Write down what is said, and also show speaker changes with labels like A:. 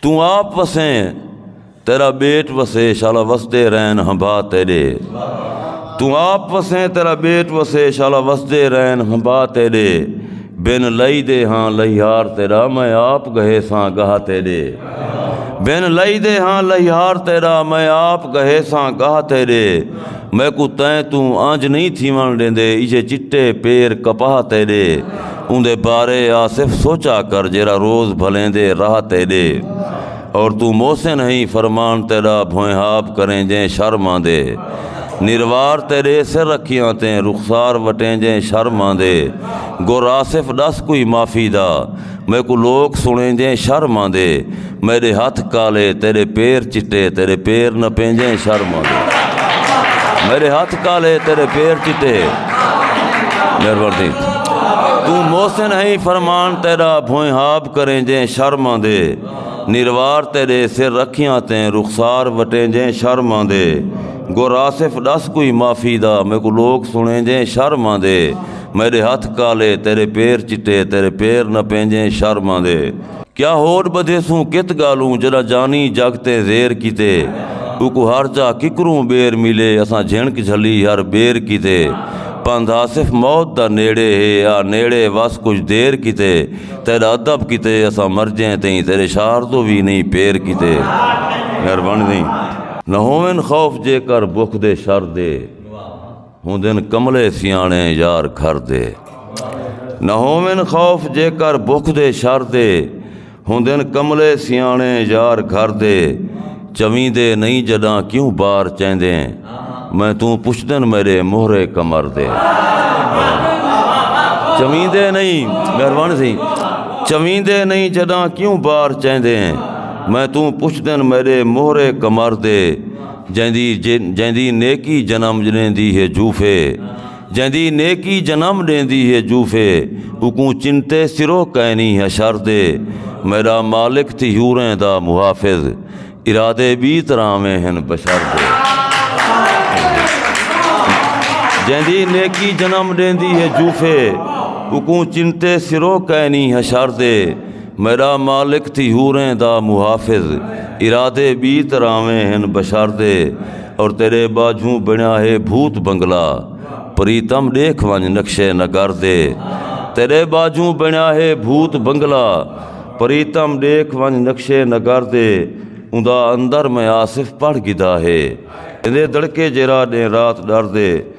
A: تو آپ وسیں تیرا بیٹ وسے شالا وسدے رین ہمبا تیرے تو آپ وسیں تیرا بیٹ وسے شالا وسدے رین ہمبا تیرے بن لئی دے ہاں لہیار تیرا میں آپ گہے ساں گاہ تیرے بن لئی دے ہاں لہیار تیرا میں آپ گہے ساں گاہ تیرے میں کو تین تو آنج نہیں تھی ون لیندے ایجے چٹے پیر کپاہ تیرے اوندے بارے آصف سوچا کر جیرھا روز بھلیں دے راہ تیڈے اور توں محسن ہئیں فرمان تیڈا بھوئنہاب کریں جیں شر ماندے نروار تیڈے سر رکھیاں تیں رخسار وٹیں جیں شر ماندے گر آصف ڈس کوئی معافی دا میکوں لوک سنیں جیں شر ماندے میݙے ہتھ کالے تیݙے پیر چٹے تیݙے پیر نہ پینجیں شرم آندے میݙے ہتھ کالے تیݙے پیر چٹے مہربانی توں محسن ہیں فرمان تیرا بھوئیں ہاب کریں جیں شرم آندے نروار تیرے سر رکھیاں تیں رخسار وٹیں جیں شرم آندے گر آصف ڈس کوئی معافی دا میں کو لوگ سنیں جیں شرم آندے میرے ہتھ کالے تیرے پیر چٹے تیرے پیر نہ پینجیں شرم آندے کیا ہوڈ بدھیسوں کت گالوں جڈا جانی جگ تے زیر کیتے اوکوں ہر جا ککروں بیر ملے اساں جھنک جھلی ہر بیر کیتے پندھ آصف موت دا نیڑے ہے آ نیڑے وس کچھ دیر کیتے تیڈا ادب کیتے اساں مرجیں تئیں تیڈے شعر توں وی نئیں پیر کیتے مہربانی تئیں نہ ہوون خوف جے کر بکھ دے شر دے۔ ہوندن کملے سیاݨے یار گھر دے نہ ہوون خوف جے کر بکھ دے شر دے ہوندن کملے سیاݨے یار گھر دے چویندے نہیں جݙاں کیوں بار چیندیں میں توں پچھدن میرے مہرے کمر دے چویندے نہیں مہربانی سی چویندے نہیں جڈاں کیوں بار چیندے میں توں پچھ دن میرے مہرے کمر دے جیندی نیکی جنم ݙیندی ہے جھوفے جیندی نیکی جنم ݙیندی ہے جھوفے اوکوں چنتے سرو کائنی حشر دے میݙا مالک تھی حوریں دا محافظ ارادے ٻی طرحاویں ہن بشر دے جیندی نیکی جنم ݙیندی ہے جھوفے اوکوں چنتے سرو کائنی حشر دے میݙا مالک تھی حوریں دا محافظ ارادے ٻی طرحویں ہن بشردے اور تیݙے ٻاجھوں بݨیا ہے بھوت بنگلہ پریتم ݙیکھ ونڄ نقشے نگر دے تیݙے ٻاجھوں بݨیا ہے بھوت بنگلہ پریتم ݙیکھ ونڄ نقشے نگر دے اوندا اندر میں آصف پڑھ گھدا ہے ایندے دڑکے جیرھا ݙینھ رات ݙردے